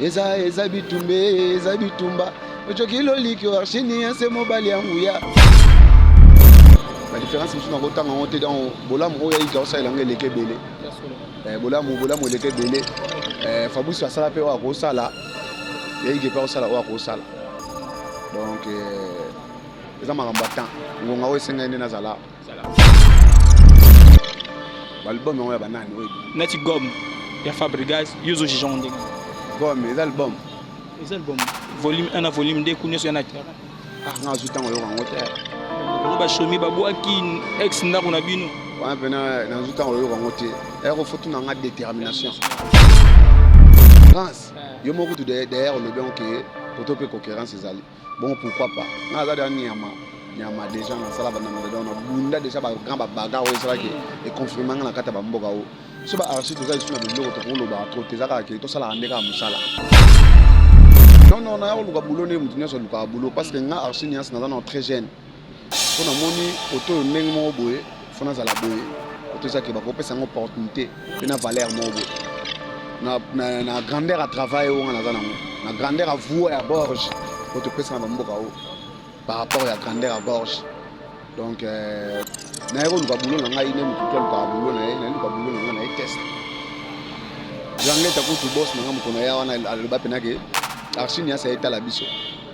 eza eza bitumba eza bitumba ocoki loliki arshini ya se mobali ya nguya badifference mosusu nakotanga yango te donc bolamu oyo yaika osalela yango eleki ebele eh, bolamu bolamu eleki ebele eh, fabrice asala mpe oyo akosala yaike mpe akosala oyo akosala donc eh, eza makambo ya temps ngonga oyo esengeli nde nazala balbum yango ya banani oyo neti gomme ya fabrigas yo ozo juge yango ndenge gomme eza album eza album volume 1 na volume 2 ku nyonso ya na terrain ah nga azwi ntango yoka yango te bango bashomi babwaki ex ndako na bino wana mpena nazwi ntango yoka yango te aya kofotu na nga détermination france eh. yo moko kutu derrière olobi yango ke koto mpe concurrence ezali Bon pourquoi pas? Nga aza deja nyama nyama deja nasala banda na dedon na bunda deja ba grand ba baga oyo esalaki e confirme nga na kati ya ba mboka oyo so ba archive toza lisusu na biloko tokoloba trop te eza kaka ke tosalaka nde kaka mosala non non naya koluka boulot nde moto nyonso alukaka boulot parce que nga archi nias naza na très jeune mpo namoni koto oyo ndenge moko boye fo nazala boye koto eza ke bakopesa yango opportunité mpe na valeur moko boye na, na, na grandeur ya travail oyo nga naza nango na grandeur ya voie ya borge oyo topesa na bamboka oyo par rapport ya grandeur ya borge donc euh, naye koluka bulo na ngai nde motu to alukaka bulo na ye naye luka bulo na ngai na ye test jangleta kutu bos na ngai mokona ya wana aloba mpenake arsini asa etala biso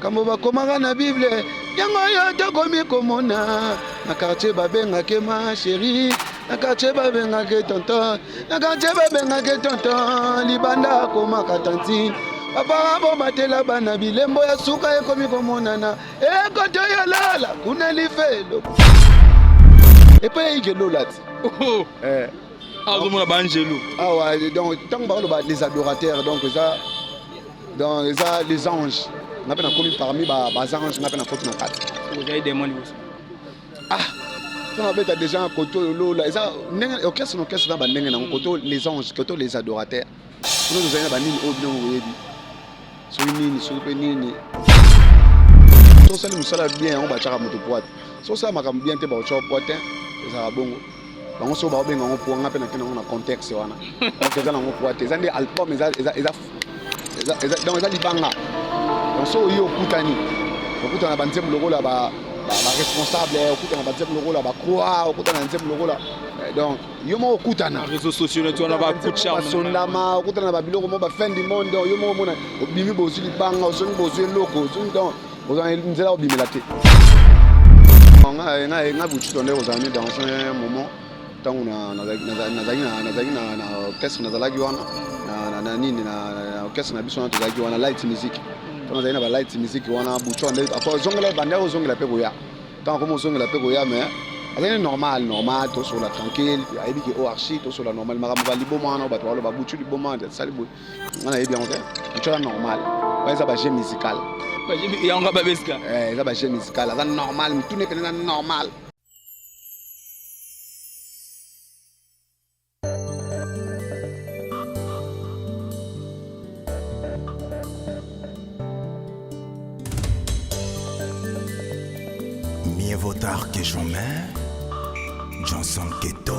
kambo bakomaka na bible yango oyo tokomi komona na quartier babengake ma chérie na quartier babengake tonton na quartier babengake tonton libanda akomaka tantine babara bomatela bana bilembo ya suka ekomi komonana ekoto eh, ya lala kuna lifelo epai eyike lola ti oh. eh. azomona baangelu awa ah donc ntango bakoloba les adorateurs donc eza Donc eza les anges. Nga pe nakomi parmi ba ba anges nga pe nakoti na kati. Ozali demon liboso. Ah mpo nabeta déjà na koto oyo lola eza ndenge orchestre na orchestre na bandenge nango koto les anges koto les adorateurs kuna tozali na banini oyo bino boyebi soki nini soki mpe nini tosali mosala bien yango batyaka moto poite sosala makambo bien te bakotya poite ezalaka bongo bango soko baobenga yango poa ngai mpe nake nango na contexte wana donc eza nango poa te eza nde album eza donc eza libanga donc soki oye okutani okutana na banzembo lokola baresponsable okutana na banzembo lokola bacroi okutana na nzembo lokola eh, donc yo moko okutana basondama okutana na babiloko moko bafin du monde donc yo moko omona obimi bozwi libanga ozongi bozwi eloko ozongi donc ozala nzela obimela te nga bucito nde kozala mi dans un moment ntango nazalaki na orchestre nazalaki wana na nini na orchestre na biso wana tozalaki wana light music ntango nazalaki na balight music wana bucito nde ozongela ebandi yako ozongela mpe koya ntango akomi ozongela mpe koya mais azali normal normal tosola tranquille ayebi ke oarchi tosola normal makambo baliboma wana bato baloba butu liboma asali boye nga nayebi yango te ncola normal oyo eza baje musical yango nga babeska eh, eza baje musical aza normal mituna epene eza normal Mieux vaut tard que jamais, Johnson Keto.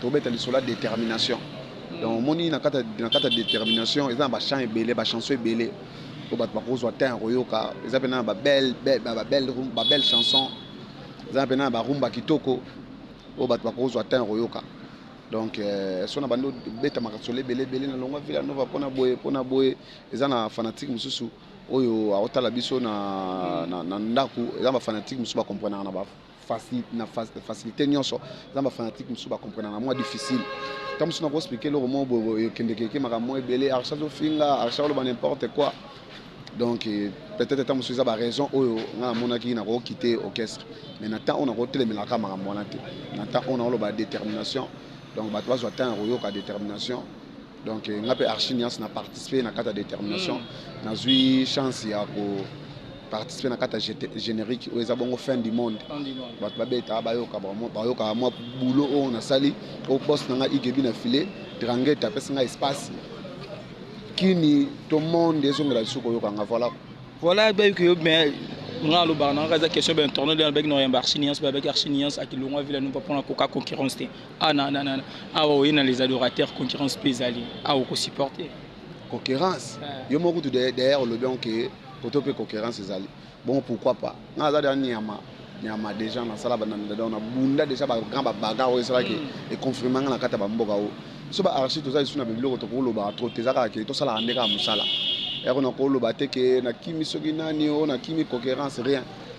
Tobeta lisolo ya determination. Donc omoni na kati na kati ya determination eza na ba chants ebele, ba chansons ebele oyo bato bakozwa temps ya koyoka. Eza mpe na ba belle ba belle ba belle chanson. Eza mpe na ba rumba kitoko oyo bato bakozwa temps ya koyoka. Donc euh, so na bando beta makasolo ebele ebele na longwa Villa Nova mpona boye mpona boye eza na fanatique mosusu oyo aotala biso na, na, na ndako eza ba fanatique mosusu bakomprenaka na ba facilité na facilité nyonso eza ba fanatique mosusu ba comprenaka mwa difficile ntango mosusu nako explike eloko moko boye ekendekeke makambo mwa ebele arsha azofinga arsha oloba n'importe quoi donc euh, peut-être ntango mosusu eza baraison oyo ngai namonaki nakokite orchestre mais na temps oyo nakotelemelaka makambo wana te na temps oyo nakoloba détermination donc bato bazwa temps ya koyoka détermination donc eh, nga mpe archi niance na participe na kati ya détermination mm. nazwi chance ya ko participe na kati ya générique oyo eza bongo fin du monde bato babeta bayoka bayoka mwa boulot oyo nasali o boss na nga igebi na filet drangete apesi nga espace kini to monde ezongela lisusu koyoka nga voilà voilà bayoki yo mais nga alobaka na nga eza question ba internaute alobaki na oyamba archi niance babaki archi niance akilongwa vila nupa mpona koka concurrence te Ah, na, na, na. Awa oye na les adorateurs concurrence mpe ezali awa ah, okosupporte concurrence ah. yo moko kutu derrière olobi yango ke poto mpe concurrence ezali bongo pourquoi pas nga aza deya nyama nyama déjà nasala bananadadao na bunda déjà bagrand babaga oyo esalaki mm. econfirme nga na kati ya bamboka oyo so baarchi toza lisusu na babiloko tokolobaka trop te eza kaka ke tosalaka nde kaka mosala yako nakoloba te ke nakimi soki nani oyo nakimi concurrence rien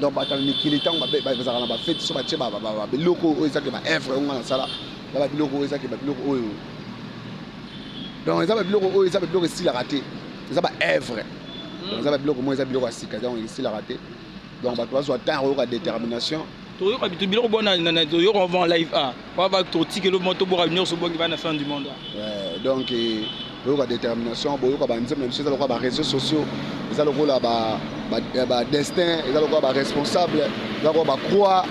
donc bato ya mikili ntango bazalaka na bafeti so batye biloko oyo ezaki baevre oyo ngai nasala na babiloko oyo ezaki babiloko oyo donc eza babiloko oyo eza babiloko esilaka te eza baevre eza babiloko moi eza biloko ya sika donc esilaka te donc bato bazwa temps ya koyoka détermination toyoka bitu biloko bona na na toyoka avant live a pa ba totika eloko moko toboka nyonso bongi bana fin du monde Ouais, donc eh, boyoka détermination boyoka banzembo na biso eza lokola ba réseaux sociaux eza lokola ba, ba, eh, ba destin eza lokola ba responsable eza lokola ba croix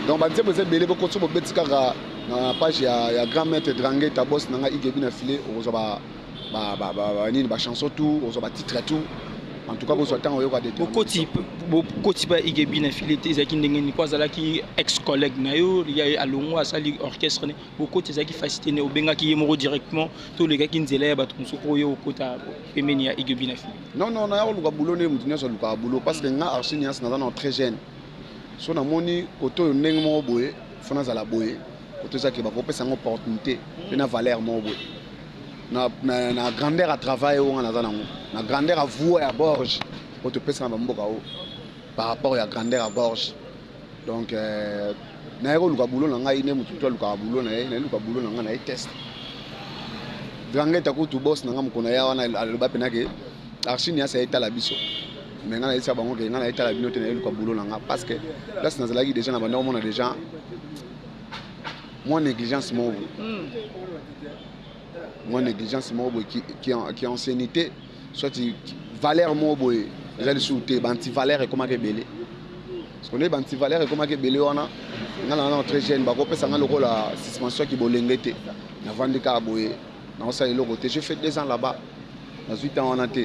donc banzembo eza ebele boko so bobeti kaka na page ya, ya grand maître drange tabos na ngai igebi na filet okozwa ba ba ba ba ba nini ba chanson tout ozo ba titre tout en tout cas bozwa ntango oyoka de bokoti bokoti mpe igebi na file te ezalaki ndenge nini mpo azalaki ex collègue na yo ye alongo asali orchestre ne bokoti ezalaki fasi te ne obengaki ye moko directement to olekaki nzela ya bato mosusu mpo oye okota pembeni ya igebi na file non non naya koluka boulot nde moto nyonso alukaka boulot parce que mm. nga archi nias naza na très jeune so namoni koto oyo ndenge moko boye fo nazala boye koto ezaki bakopesa yango opportunité mpe na valeur moko boye na, na, na grandeur ya travail oyo nga naza nango na grandeur ya voie ya borge oyo topesa na bamboka oyo par rapport ya grandeur ya gorge donc euh, naye koluka bulo na ngai nde motu to alukaka bulo na ye naye luka bulo na ngai na ye test drangeta kutu bos na ngai mokona ya wana aloba mpena ke archini yasa etala biso me ngai nayebisa bango ke ngai nayetala bino te naye luka bulo na ngai parce que place nazalaki deja na banda komona deja Moi négligence moko boye. Hmm. Moi négligence moko boye qui, qui, qui anciennité soit valeur moko boye eza lisusu te bantivaleur ekomaki ebele sikoyo bantivaleur ekomaki ebele wana ngai nana très jeune bakopesa ngai lokola suspension ya kibolenge te navandi kaka boye nakosala eloko te je fait deux ans là-bas nazwi temps wana te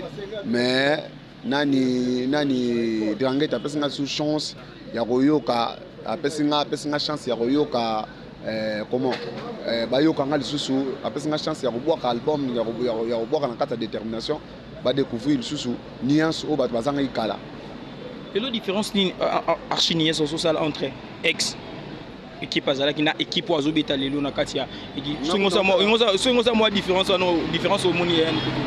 mais nani nani dranget apesi nga sous chance ya koyoka apesi nga apesi nga chance ya koyoka eh, comment eh, bayoka nga lisusu apesi nga chance ya kobwaka album ya kobwaka na kati ya détermination badécouvrir lisusu nuance oyo bato bazangaki kala lelo différence nini euh, euh, euh, archi nuance ozosala entre ex ekipe azalaki na ekipe oyo azobeta lelo na kati ya soki ngoza mwa différence wana différence omoni ya yani kutu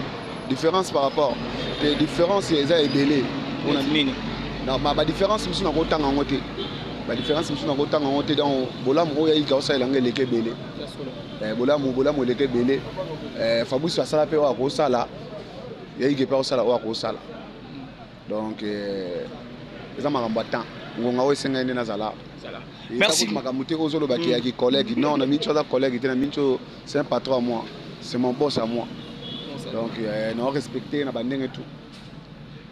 différence par rapport te différence eza ebele mpona nini badiférence mosusu nakotanga yango te badiférence mosusu nakotanga yango te donc bolamu oyo yaika osalela yango eleki ebele eh, bolamu bolamu eleki ebele eh, fabrice asala mpe oyo akosala yaike mpe akosala oyo akosala donc euh, eza makambo ya temps ngonga oyo esengeli nde nazala merci makambo te ozoloba ke ya kicollègue mm. non na minci aza collègue te na minci oyo c'est un patron à moi c'est mon boss à moi donc euh, na respecte na bandenge tout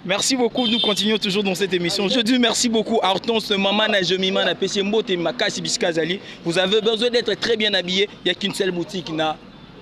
Merci beaucoup, nous continuons toujours dans cette émission. Je dis merci beaucoup à Hortense, Maman, Najomima, na Pessembo, Makasi Biskazali. Vous avez besoin d'être très bien habillé. Il n'y a qu'une seule boutique. Na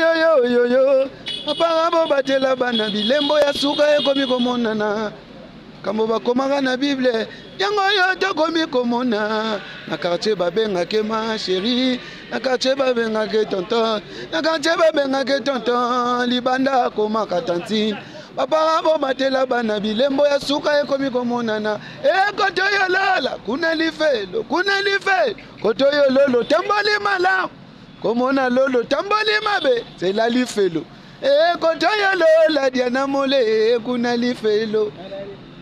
yoyoyoyoyo apanga bobatela bana bilembo ya suka ekomi komonana kambo bakomaka na bible yango oyo tokomi komona na quartier babengake ma sheri na quartier babengake tonton na quartier babengake tonton libanda akomaka tantine bapara bobatela bana bilembo ya suka ekomi komonana ekotoyolala kuna lifelo kuna lifelo kotoyololo tamboli malamu komona lolo tamboli mabe zela lifelo ekotoyo lola diana mole kuna lifelo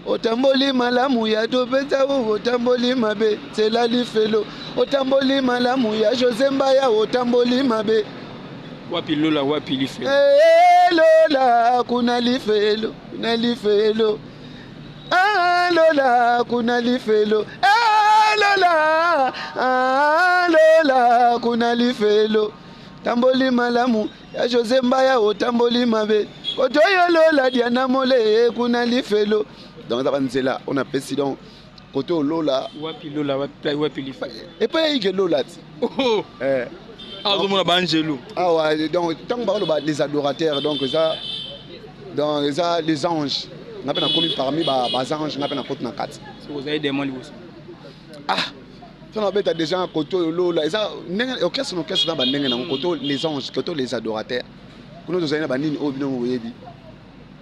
otamboli malamu ya topesa u otamboli mabe zela lifelo otamboli malamu ya jose mbaya otamboli mabe wapi lola wapi lifelo hey, eh, lola kuna lifelo kuna lifelo Ah, lola kuna lifelo ah, lola ah, lola kuna lifelo tamboli malamu ya jose mbaya otamboli mabe koto yo lola diana mole kuna lifelo donc eza banzela oyo napesi donc kote olola wapi lola wapi wapi lifa epai yaike lola ti oh. eh. azomona ah, baangelo awa ah, donc ntango bakoloba les adorateurs donc eza Donc eza les anges. Nga pe nakomi parmi ba ba anges nga pe nakoti na kati. Soko ozali demon liboso. Ah to na beta déjà koto oyo lola eza ndenge orchestre na orchestre na ba ndenge nango koto les anges koto les adorateurs. Kuna tozali na ba nini oyo bino boyebi.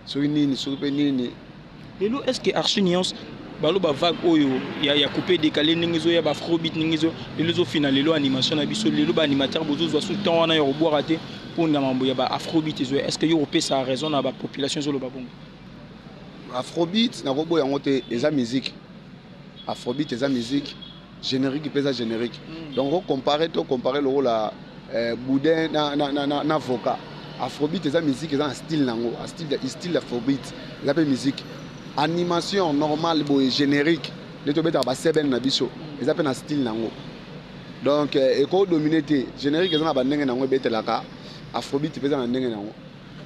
Soki nini soki pe nini Lelo est-ce que Archi Nuance baloba vague oyo ya, ya coupe décalé ndenge ezoya ba afrobeat ndenge ezo lelo ezofina lelo animation na biso lelo ba animateur bozozwa su temps wana ya kobwaka te mpo na mambo ya ba afrobeat ezoya est-ce que yo kopesa raison na ba population ezoloba bongo afrobeat nakoboya yango te eza musique afrobeat eza musique Generique mpe eza generique. Mm. Donc o comparer to comparer lokola eh, boudin na, na, na, na, na voka. Afrobeat eza musique eza na style nango, a style de style afrobeat. Eza mpe musique. Animation normale boye generique. Nde tobetaka ba seben na biso. Mm. Eza mpe na style nango. Donc eh, eko dominer te. Generique eza na ba ndenge nango ebetelaka. Afrobeat mpe eza na ndenge nango.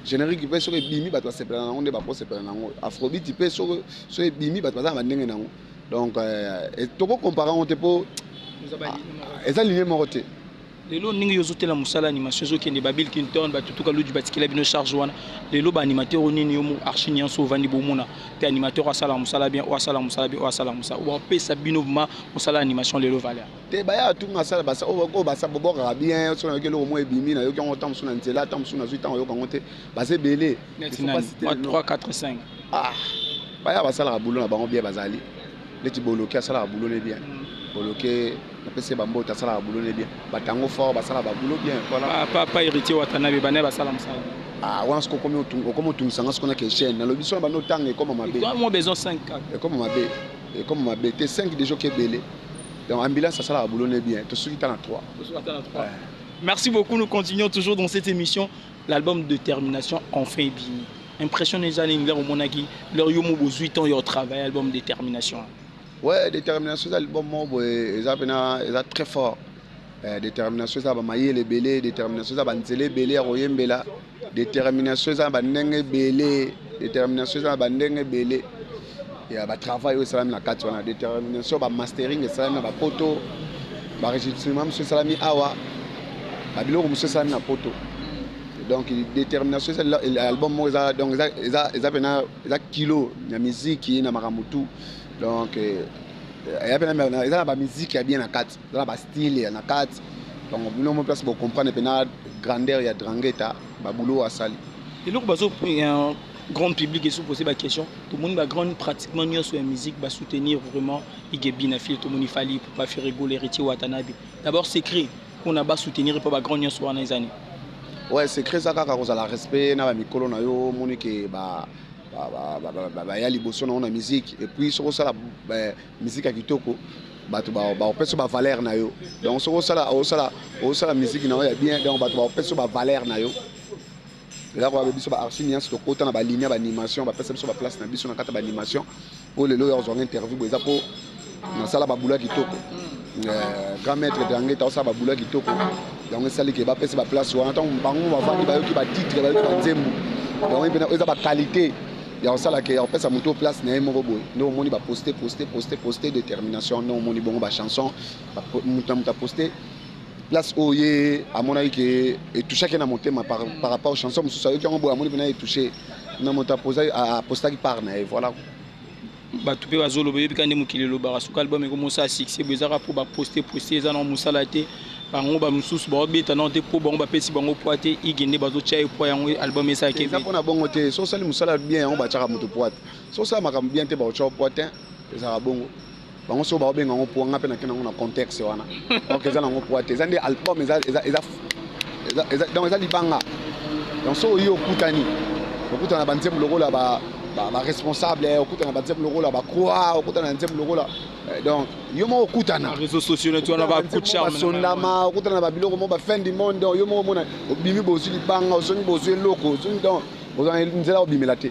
générique mpe soki ebimi bato basepela na yango nde bakosepela na yango afrobiti mpe soki ebimi bato baza na bandenge na yango donc euh, toko compare yango te mpo eza linie moko te lelo ndenge yo ozotela mosala animation ezokende babil kinton batutuka luji batikela bino charge wana lelo baanimateur oyo nini yo archi nyonso ovandi bomona mpe animateur asalaka mosala bien oyo asalaka mosala bien oyo asalaka mosala oyo bapesa bino vraimen mosala animation lelo valeur te baya atunga asala oyo babwakaka bien soki nayoki eloko moko ebimi nayoki yango ntango mosusu na nzela ntango mosusu nazwi ntango oyoka yango te baza ebele neti nani ba 3 4 5 ah baya basalaka boulot na bango bien bazali neti boloki asalaka boulot ne bien mm. boloki napesi ye bambote asalaka boulot ne bien batango fort basala baboulot bien voilà papa héritier watanabe banaye basala mosala ah wana soki okomi okomi otungisa nga soki na keshene nalobi so na banda otanga ekoma mabe ekoma mabe ekoma mabe te 5 deja oki ebele donc ambulance asalaka boulot ne bien tosuki ta na 3 merci beaucoup nous continuons toujours dans cette émission L'album Determination enfin ebimi. Impression eza nini ndenge omonaki leur yo mo bozui temps yo travailler album Determination? Ouais, Determination eza album moko boye eza pena eza très fort. Eh, determination eza ba mayele ebele, determination eza ba nzela ebele ya koyembela, determination eza ba ndenge ebele, determination eza ba ndenge ebele. ya ba travail oyo esalami na kati wana determination ba mastering esalami na bapoto baregistrement mosusu esalami awa babiloko mosusu esalami na poto donc détermination eza album moko eza donc eza eza eza pena eza kilo na miziki na makambo tout donc eh, eza pena eza na bamiziki ya bien na kati eza na bastyle ya na kati donc bino mo place bocomprendre pena grandeur ya drangeta babulo asali eloko bazo eh, Grand public et sous poser ba question. Tout le monde ba grande pratiquement nion sur la musique ba soutenir vraiment Igebi na fille tout le monde fallait pour pas faire rigoler Richie Watanabe. D'abord c'est créé qu'on a bas soutenir pour ba grande nion sur les années. Ouais, c'est créé ça kaka kozala respect na ba mikolo na yo moni que ba baya liboso na yo na musique et puis soki osala musique ya kitoko bato bakopesa bavaleur na yo donc soki osala musique na yo ya bien donc bato bakopesa bavaleur na yo Eza kwa biso ba archi niance to kota na ba ligne ba animation ba pesa biso ba place na biso na kata ba animation po lelo ya ozwa interview bo eza po na sala ba boulot kitoko euh, grand maître de anglais ta sala ba boulot kitoko donc esali ke ba pesa ba place wana tant bango ba vandi ba yoki ba titre ba yoki ba nzembo donc epena eza ba qualité ya kosala ke ya kopesa moto place na ye moko boye nde omoni ba poste poste poste poste détermination nde omoni bongo ba chanson moto na moto aposte place oyo ye amonaki ke etouchaki na motema par, par rapport chanson mosusu ayoki yango boye amoni mpena etouche na moto apostaki part na ye voilà bato mpe bazoloba oyebi ka nde mokili elobaka soki album ekomosala succès bo ezaka mpo baposte poste eza na mosala te bango bamosusu baobeta nao te mpo bango bapesi bango poi te ige nde bazotya ye poi yango album esalaki eza mpo na bongo te so osali mosala bien yango batyaka moto poi te so osala makambo bien te bakotya poi te ezalaka bongo bango soko baobenga yango poa ngai mpe nake nango na contexte wana donc eza nango poa te eza nde album eza, eza, eza, eza, eza, donc eza libanga donc soki oye okutani okutana na banzembo lokola ba, ba, ba responsable eh, okutana na banzembo lokola bacroi okutana na nzembo lokola eh, donc yo moko okutana basondama okutana na babiloko moko bafin du monde donc yo moko omona obimi bozwi libanga ozongi bozwi eloko ozongi donc ozala nzela obimela te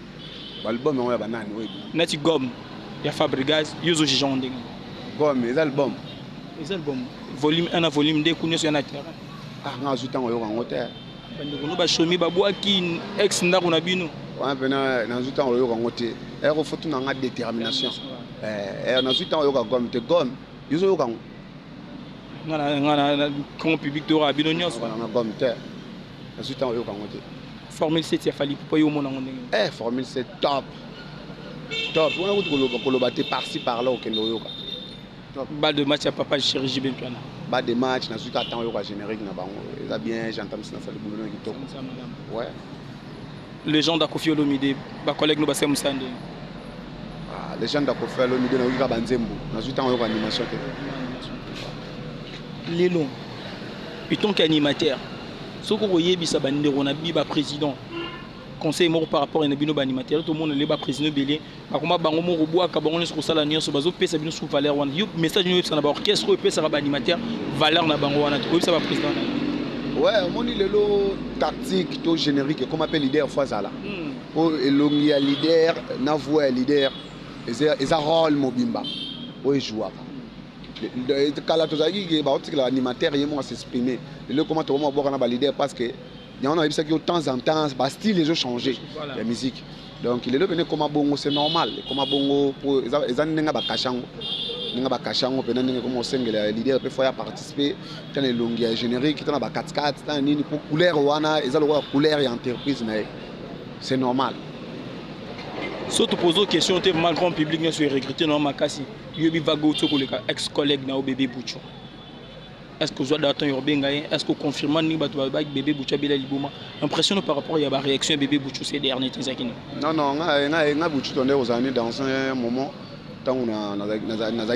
Album yango ya banani oyebi? Nati Gom ya Fabrigaz, yo ozo juge yango ndenge nini? Gom eza album? Eza album. Volume 1 na volume 2 kuna eza na terrain. Ah, nga azu tango yoka yango te. Bandeko no bashomi babwaki ex ndako na bino. Wana pena nazu tango yoka yango te. Aya ko fotu na nga détermination. Eh, eh nazu tango yoka Gom te. Gom, yo zo yoka yango? Nga na nga na grand public to yoka bino nyonso. Wana Gom te. Nazu tango yoka yango te. Formule 7 ya Fally Ipupa yo omona ngo ndenge nini? Eh Formule 7 top. Top. Wana kutu koloba koloba te par ci par là okende oyoka. Top. Ba de match ya papa chéri JB Mpiana. Ba de match na suka temps oyoka générique na bango. Eza bien j'entends ça Fally boulot na kitoko. Ouais. Legende ya Koffi Olomide ba collègues no ba semu sande. Ah legende ya Koffi Olomide na yoka ba nzembo. Na suka temps oyoka animation te. Lelo. Itonki animateur. soki okoyebisa bandeko na bi ba président conseil moko par rapport na bino baanimateur tomona lelo baprésident ebele bakoma bango moko bwaka bango nyonso kosala nyonso bazopesa bino sous valeur wana yo message nini oyebisa na baorchestre oyo epesaka baanimateur valeur na bango wana te koyebisa baprésident na yo ouais omoni lelo tactique to générique ekoma mpe leader fo azala hmm. mpo elongi ya leader na voix ya leader eza role mobimba oyo ejouaka kala tozalaki ke baotikela animateur ye moko a s'exprimer lelo ekoma tokoma kobwaka na balider parce que yango nayebisaki yo temps en temps bastyle ezo change ya musique donc lelo pene ekoma bongo c'est normal ekoma bongo po eza ndenge bakasha yango ndenge bakasha yango mpena ndenge ekoma osengela ya leader mpe fo ya participe ta na elongi ya générique ta na bakatikati ta na nini mpo couleur wana eza lokola couleur ya entreprise na ye c'est normal soki topose question te vraiment grand public nyonso erecrute na yo makasi Yo bivago uti koleka ex collègue na yo bebe bucho. Est-ce que ozwa daton yo benga ye? Est-ce que confirma ni bato ba bebe bucho bela liboma? Impression par rapport ya ba réaction bebe bucho ces derniers temps ezaki nini? Non non nga nga nga bucho tonde ozala ni dans un moment tango na nazalaki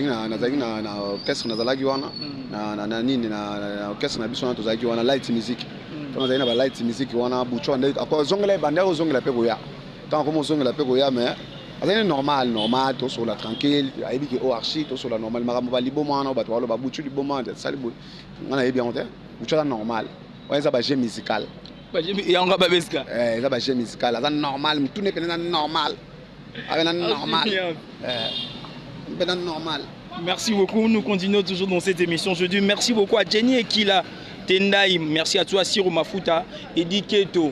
na nazalaki na na orchestre nazalaki wana hmm. na na na nini na orchestre na biso wana tozalaki wana light music. Hmm. Tango nazalaki na ba light music wana bucho ande akozongela ebanda ozongela pe koya. Tant comme ozongela pe koya mais azali normal normal tosola tranquille ayebi ke o archi tosola normal makambo baliboma wana bato baloba butu liboma sali boye nga nayebi yango te butu aza normal wana eza baje musical yango babeska eh, eza baje musical aza normal motuna epene na normal abe na normal eh, mpe na normal Merci beaucoup. Nous continuons toujours dans cette émission. Je dis merci beaucoup à Jenny Ekila Tendai. Merci à toi, Siro Mafuta, Eddie Keto.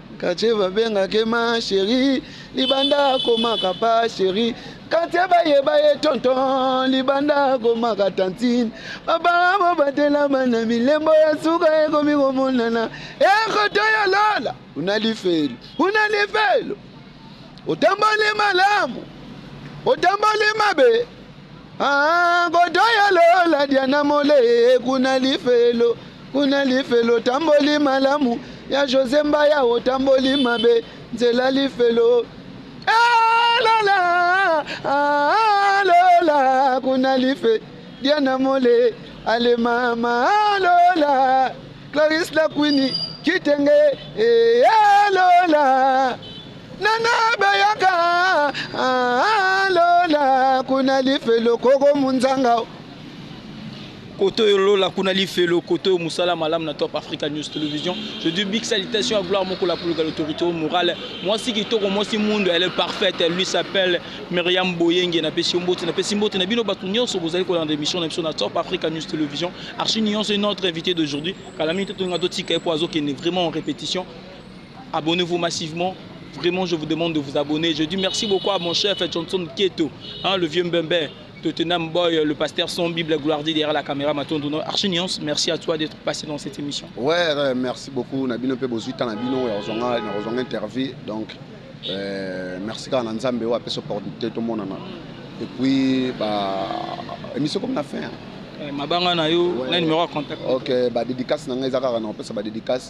Katie babengaka ye ma cherie libanda akomaka pa cherie katie bayeba ye tonton libanda akomaka tantine babanga bobatela bana milembo ya suka ekomi komonana ekoto ya lola una lifelo una lifelo otamboli malamu otamboli mabe Ah, godoya lola diana mole kuna lifelo kuna lifelo tamboli malamu ya jose mbaya otamboli mabe nzela lifelo ah, lola ah, lola kuna life diana mole ale mama ah, lola claris la quini kitenge eh, ah, lola nana bayaka lola kuna lifelo koko munzanga koto yo lola kuna lifelo koto yo musala malamu na top africa news television je dis big salutation à gloire moko la plus grande autorité morale mwasi kitoko mwasi mundu elle est parfaite elle lui s'appelle Myriam Boyenge na pesi mbote na pesi mbote na bino bato nyonso bozali kolanda émission na biso na top africa news television archi nyonso notre invité d'aujourd'hui kala mingi totonga totika ye po azokende vraiment en répétition Abonnez vous massivement vraiment je vous demande de vous abonner je dis merci beaucoup à mon chef Johnson Keto hein, le vieux Mbembe Tottenham Boy, le pasteur sans Bible, gloire dit derrière la caméra, Matondono, Archie Nuance, merci à toi d'être passé dans cette émission. Ouais, euh, merci beaucoup, Nabino Pe Bozuita, Nabino, Rozonga, Rozonga Interview, donc euh, merci à Nanzambe, ouais, Peso Producteur, tout le monde, et puis, bah, émission comme la fin. Hein. Eh, mabanga na yo na numéro ya contact ok badédicace na ngai eza kaka na opesa badédicace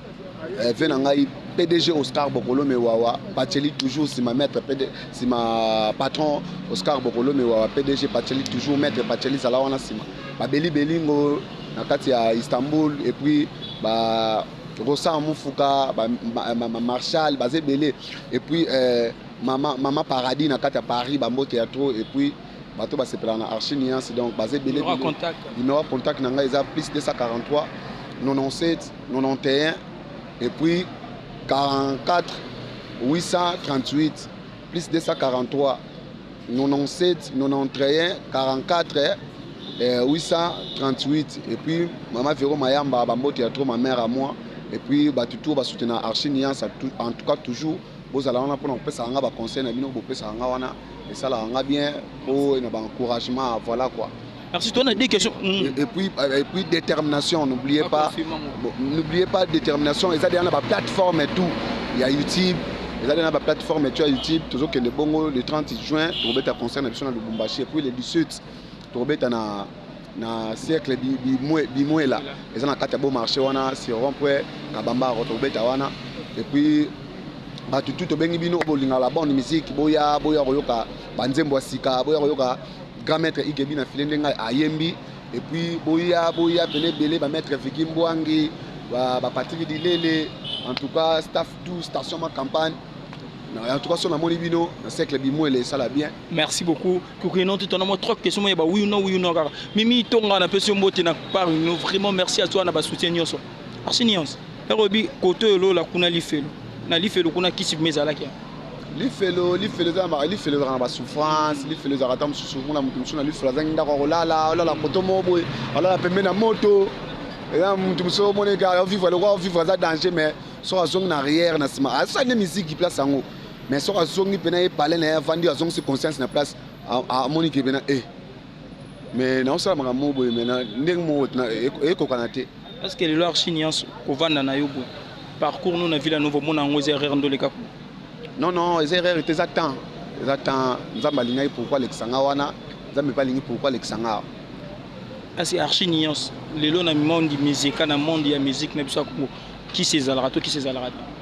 Eh, ve na ngai pdg oscar bokolo mewawa baceli toujours nsima maître pd nsima patron oscar bokolo mewawa pdg baceli toujours maître baceli zala wana nsima babelibeli ngo na kati ya istanbul et puis ba rosa mofuka marshal baza ebele et puis eh, mama, mama paradis na kati ya paris bambote ya trop et puis bato basepelaka na archi nuance donc baza ebele numero contact na ngai eza plus 243 97 91 et puis 44 838 plus 243 97 91 44 eh, 838 et puis mama Vero Mayamba bambote ya trop ma mère à moi et puis bato tour basutena archi niance en tout cas toujours bozala wana mpona kopesaka nga baconseil na bino bopesaka nga wana esalaka nga bien mpo na baencouragement voilà quoi Merci, toi, on a des questions. Mm. Et, puis, euh, et puis, détermination, n'oubliez pas. N'oubliez pas, détermination, ils ont des plateformes et tout. Il y a YouTube, ils ont des plateformes et tout, YouTube, toujours que le bongo, le 30 juin, tu vas concert à Lubumbashi, et puis le 17, tu vas na na cercle bimwela eza na kati ya beau marché wana sur rond point kabamba rotobeta wana et puis bato tu tobengi bino bolingaka la bonne musique boya boya koyoka banzembo ya sika boya koyoka Grand maitre Igebi na filet ndenge ayembi et puis boya boya pene belé ba maitre Vicky Mbwangi ba, ba Patrick Dilele en tout cas staff tout station ma campagne en tout cas son amoni bino na cercle bimwele sala bien merci beaucoup kukuino tout on a trois questions mais ba oui ou non oui ou non kaka mimi tonga na pesi mbote na par vraiment merci à toi na ba soutien nyonso Basi nyonso. Yako yebi kote oyo lola kuna lifelo. Na lifelo kuna kisi bima ezalaki ya. Lifelo, lifelo eza na lifelo ezalaka na ba souffrance, lifelo ezalaka ata mosusu mona moto mosusu na lifelo azangi ndako ya kolala, olala koto moko boye, olala pembe na moto. Eza moto mosusu omoni ka vivre lokola vivre aza danger mais soki azongi na arrière na sima asali nde miziki place yango mais soki azongi mpena ye palais na ye avandi azongisi conscience na place amoni ke mpena e eh, mais naosala makambo moko boye mai ndenge moko ekokana te Est-ce que lelo archi nyans kovanda na yo boye parcours no na Villa Nova omona yango eza erreur ndoleka kuna non non eza erreur te eza temps eza temps nzambe alingaki pourquoi alekisa nga wana nzambe mpe alingi pourquoi alekisa nga awa asi archi nyans lelo na monde mizika na monde ya musique na biso ya kongo kisi ezalaka to kisi ezalaka te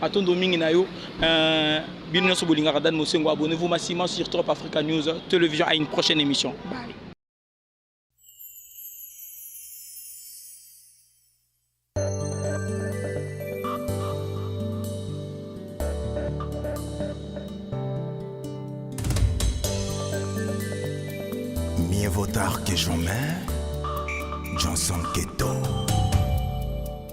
Matondo mingi na yo. Euh, bino nyoso bolingaka Dan Mosengo, abonnez-vous massivement sur Top Africa News Television à une prochaine émission. Bye.